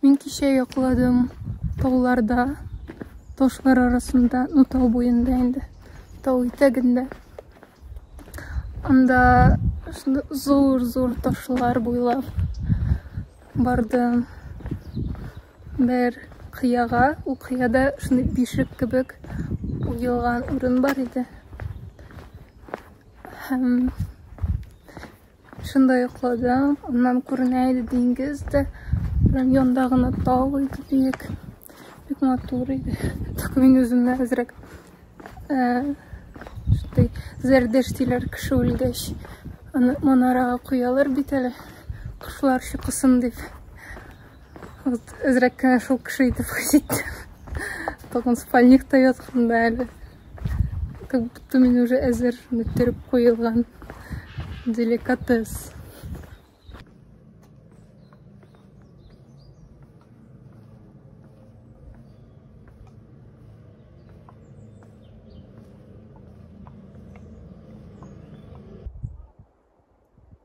Мин кичә йокладым тауларда, ташлар арасында, ну тау буенда инде, тау итәгендә. Анда зур-зур ташлар буйлап бардым. Бер кыяга, ул кыяда шундый бишек кебек уелган урын бар иде. Һәм Шунда йокладым. Аннан күренә иде диңгез дә. Прям янда гына тау иде биек. Бик матур иде. Только мин үземне әзрәк шундый зәрдеш диләр кеше үлгәч. Аны манарага куялар бит әле. Кошлар чукысын дип. Вот, әзрәк кенә шул кеше итеп хис иттем. Тагын спальникта ятканда әле. Как будто мин уже әзер мөттереп куелган. Деликатес.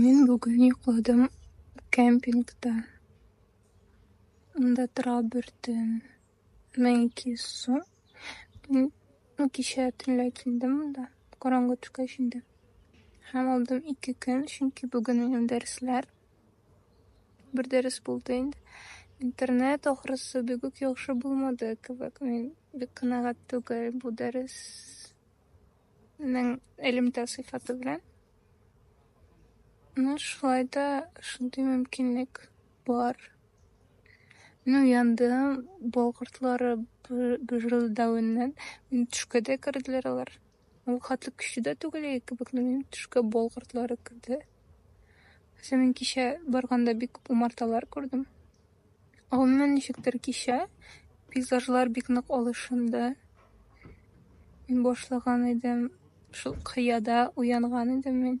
Мин бүген йоклыдым кемпингта. Анда тора бөртен. Мәйки су. Мин ну, кичә төнлә килдем монда. Караңгы төшкәч инде. Һәм алдым ике көн, чөнки бүген минем дәресләр. Бер дәрес булды инде. Интернет ахрысы бигүк яхшы булмады кебек. Мин бик канәгать түгел бу дәрес Ның элемтә сыйфаты белән. Ну, шулай да шундый мөмкинлек бар. Ну, яндым, болгыртлары бөжрылдавыннан, мин төшкә дә керделәр алар. Ул хәтле көчле дә түгел иде кебек, но минем төшкә болгыртлары керде. Хәзер мин кичә барганда бик умарталар күрдем. Ә гомумән ничектер кичә пейзажлар бик нык алышынды. Мин башлаган идем, шул кыяда уянган идем мин.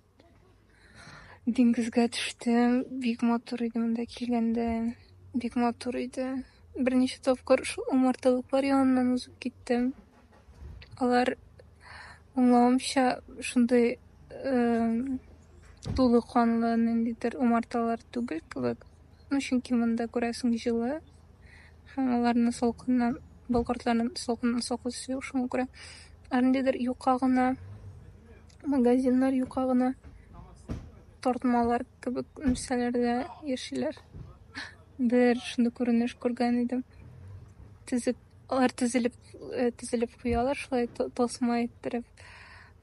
Диңгезгә төштем, бик матур иде монда килгәндә, бик матур иде. Берничә тапкыр шул умарталыклар яныннан узып киттем. Алар, аңлавымча, шундый тулы канлы ниндидер умарталар түгел кебек. Ну, чөнки монда, күрәсең, җылы һәм аларны салкыннан, бу кортларны салкыннан саклый төсле, шуңа күрә. Ә ниндидер юка гына, магазиннар юка гына, тартмалар кебек нәрсәләрдә яшиләр. Бер шундый күренеш күргән идем. Тезек. Алар тезелеп, э, тезелеп куялар шулай то- тасма иттереп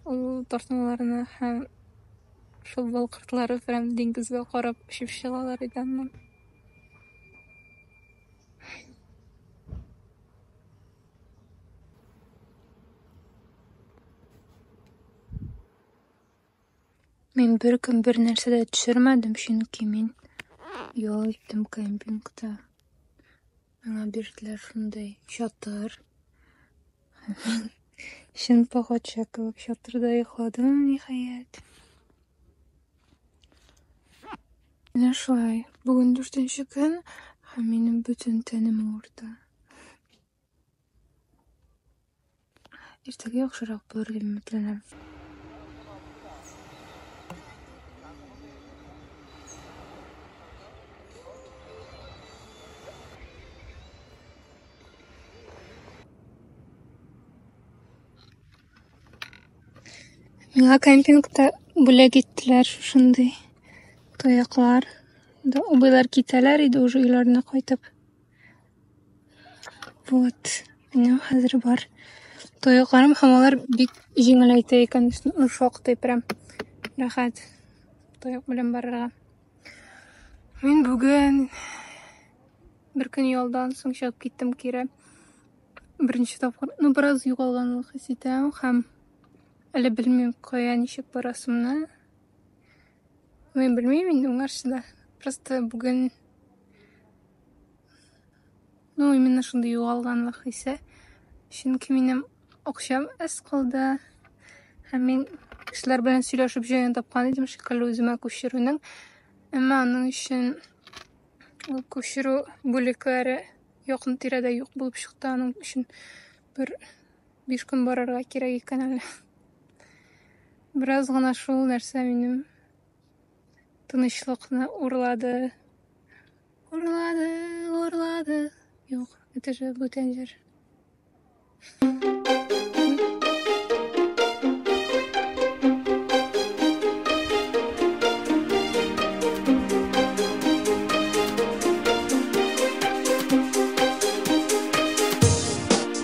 ул тартмаларны һәм шул балкыртлары белән диңгезгә карап очып чыгалар иде аннан. Мин беркем бер нәрсә дә төшермәдем, чөнки мин ял иттем кемпингта. Миңа бирделәр шундый чатыр. Чын пахатча кебек чатырда йокладым, ниһаять. Менә шулай. Бүген дүртенче көн, һәм минем бөтен тәнем авырта. Иртәгә яхшырак булыр дип өметләнәм. Миңа кемпингта бүләк иттеләр шушындый тояклар. Да, абыйлар китәләр иде уже өйләренә кайтып. Вот. Минем хәзер бар. Тоякларым һәм алар бик җиңеләйтә икән, ну, шактый прям рәхәт. Тояк белән барырга. Мин бүген бер көн ялдан соң чыгып киттем кире. Беренче тапкыр, ну, бераз югалганлык хис итәм һәм әле белмим, кая ничек барасымны. Мен белмим инде уңарсы да. Просто бүген Ну, именно шундый югалганлык хисе. Чөнки минем акчам әз калды. Һәм мин кешеләр белән сөйләшеп җыен тапкан идем шикелле үземә күчерүнең. Әмма аның өчен ул күчерү бүлекләре якын тирәдә юк булып чыкты. Аның өчен бер Биш көн барырга кирәк икән әле. Бераз гына шул нәрсә минем тынычлыкны урлады. Урлады, урлады. Юк, это же бүтән җыр.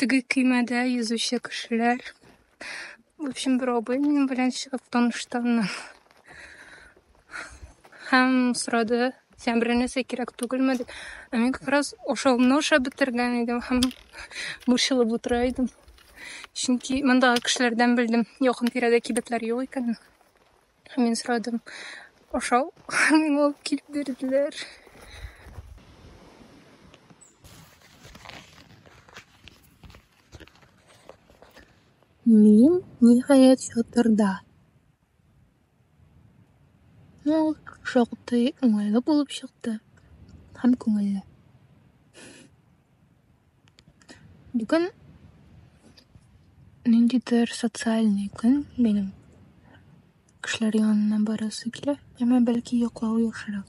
Теге көймәдә йөзүче кешеләр. В общем, бер абый минем белән чыгып таныштаннан. Һәм сорады, сән берәр нәрсә кирәк түгелме дип. Ә мин как раз ашавымны ашап бетергән идем һәм борчылып утыра идем. Чөнки мондагы кешеләрдән белдем, якын тирәдә кибетләр юк икәнен. Һәм мин сорадым, ашау, һәм миңа алып килеп бирделәр. Мин, ниһаять, чатырда. Ул шактый уңайлы булып чыкты һәм күңелле. Бүген ниндидер социальный көн минем. Кешеләр янына барасы килә, әмма бәлки йоклау яхшырак.